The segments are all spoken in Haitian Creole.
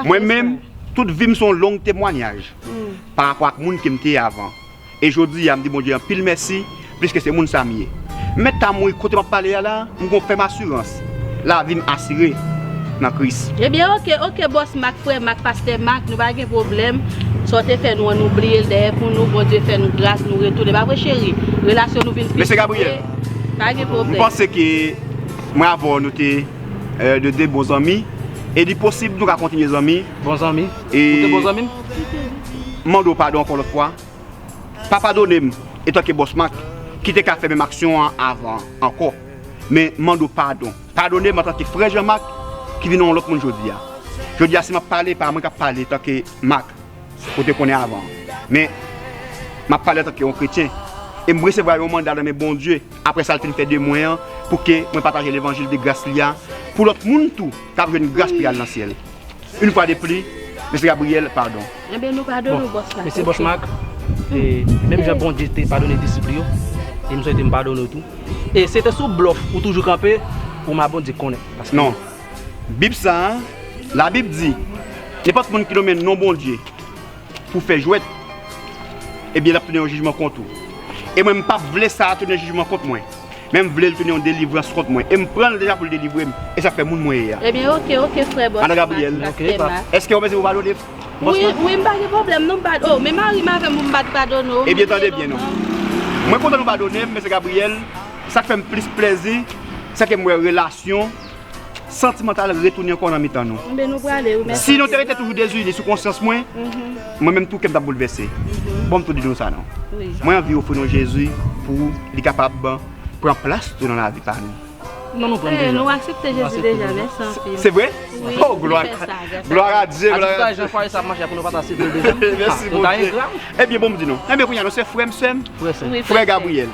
Mwen menm, tout vi m se yon long temwanyaj parapò ak moun ke m te ye avan. e jodi a m di Bondye anpil mèsi pliske se moun sa m ye. M mèt ta mouri kote m ap pale a la, m gon fèm asirans, lavi m asire nan Kris. Ebyen ok ok bòs mak frè mak pastè mak nou pa gen pwoblèm sa w te fè nou an nou bliye l dèyè pou nou Bondye fè nou gras nou retounen pa vre cheri relasyon nou vin pi Mesye Gabriel m panse ke mwen avè w nou te de bon zanmi e li posib nou ka kontinye zanmi bon zanmi ou te bon zanmi m. M mande w padon ankò lòt fwa. Pa padone m etanke bòs Mak ki te ka fè menm aksyon an avan an ankò. Men m mande w padon. Padone m antanke frè Jan Mak ki vin yon lòt moun jodi a. Jodi a si m ap pale e pa mwen k ap pale etanke Mak ou te konnen avan an. Men m ap pale antanke yon kretyen. E m resevwa yon manda nan men Bondye apre sa l fin fè de mwen an pou ke mwen pataje levanjil de gras li a pou lòt moun tou k ap jwenn gras pou y al nan syèl. Une fwa de pli Mesye Gabriel padon. Enben nou padone w Bòs Mak. Mesi Bòs Mak. E menm jan Bondye te padone disip li yo, e m swete m padone w tou. E se te sou blòf ou toujou kanpe pou ma Bondye konnen. Paske. Non. Bib sa a, Labib di, Nenpòt moun ki nonmen non Bondye. pou fè jwèt, ebyen l ap tounen yon jijman kont ou. E mwen m pa p vle sa a tounen jijman kont mwen, men m vle l tounen yon delivrans kont mwen. E m pran l deja pou l delivre m, e sa k fè moun mwen ye a. Ebyen oke, oke frè Bòs Mas, Andre Gabriel, Pastè Mas. Èske ou panse pou padone Bòs Mas? Wi, wi, m pa gen pwoblèm non, m pa, o, men mari m avè m pou m pa t padone w. Ebyen tande byen non. Mwen kontan nou padone m, Mesye Gabriel, sa k fè m plis plezi, sèke m wè relasyon. santimantal retounen ankò nan mitan nou. Si nou te rete toujou dezini sou konsyans mwen, mwen menm tou kè m t ap boulvèse. Bon m tou di nou sa non. Mwen anvi ofri nou Jezi pou li kapab pran plas tou nan lavi pa nou. Nou aksepte Jezi deja, men san fi. Se vre? Oh glwa a Dye! An tou ka jan fwaye sa ap mache a pou nou pa ta sete l deja. Mèsi Bondye. Nou ta engra wi. Ebyen bon m di nou. Ebyen kounya nou se frè m, sè m? Frè Gabriel.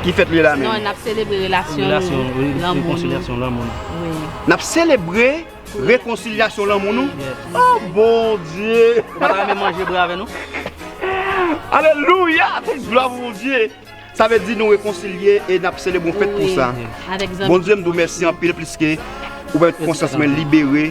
Ki fèt li la menm? Non, n ap selebre relasyon nou, lanmou nou. N ap selebre rekonsilyasyon lanmou nou? O bon Dye! Ou pa ta renmen manje bre avè nou? Alelouya! Tout glwa pou bon Dye! Sa vle di nou rekonsilye e n ap selebre yon fèt pou sa. Bon Dye, m di w mèsi anpil pliske ou pèmèt konsyans mwen libere.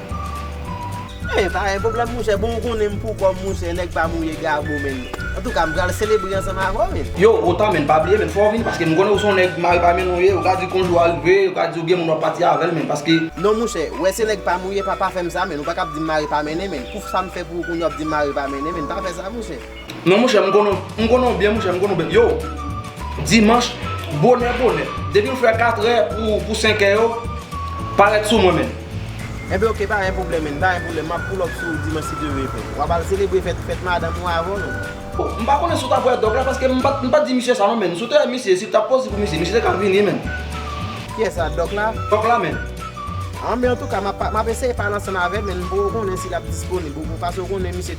Mwen pa gen pwoblèm monchè bon ou konnen m pou kòm monchè nèg pa mouye gabo menn antouka m pral selebre ansanm avè w menn. Yow Rotan menn pa bliye menn fò w vini paske m konnen ou son nèg mari pa menn ou ye ou ka di konjou a rive ou ka di ou gen moun wap pati avèl menn paske. Non monchè ou wè se nèg pa mouye pa pa fè m sa menn ou pa ka ap di m mari pa mennen menn pou sa m fè pou ou kounye w ap di m mari pa mennen menn pa fè sa monchè. Non monchè m konnen w, m konnen w byen monchè, m konnen w byen. Yo, dimanch, bonè bonè, depi m fè katrè pou senkè yo, parèt sou mwen menn. Enben ok, pa gen pwoblèm menn, pa gen pwoblèm, m ap pull up sou ou dimanch si Dye vle. W ap al selebre fèt, fèt madanm ou avè w non. O, m pa konnen si w t ap wè dòk la paske m pa t di misye sa non menn. Si w te wè misye, si w t ap poze pou misye, misye te ka vini menn. Kiyès la, dòk la? Dòk la menn. An, men antouka, m ap eseye pale ansanm avè l menn pou w konnen si l ap disponib. Ou pase w konnen misye.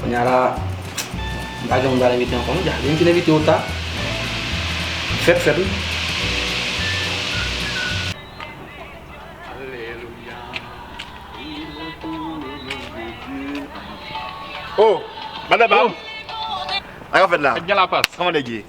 Kounya la m pa gen moun pral envite ankò non Djalin m fin envite yo ta Fèt fèt wi Ooh Madame Bab Sak ap fèt la Kòman nèg ye?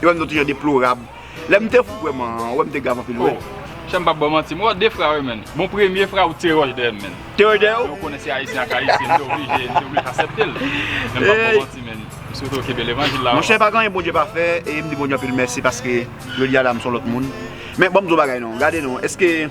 Yo menm nou toujè deplorab. Lèm te fou kwè man an wè m te grav anpil wè. Oh Chè m pap baw manti m wè w 2 fra wi menn bon premye fra ou t tire wòch dèyè m menn. Te wòch dèyè w? Men w konnen se ayisyen ak ayisyen m te oblije m te oblije asèpte l men m pap baw manti menn m swete w kenbe levanjil la. Monchè pa gen anyen Bondye pa fè e m di Bondye anpil mèsi paske jodi a la m s on lòt moun men banm di w yon bagay non gade non eske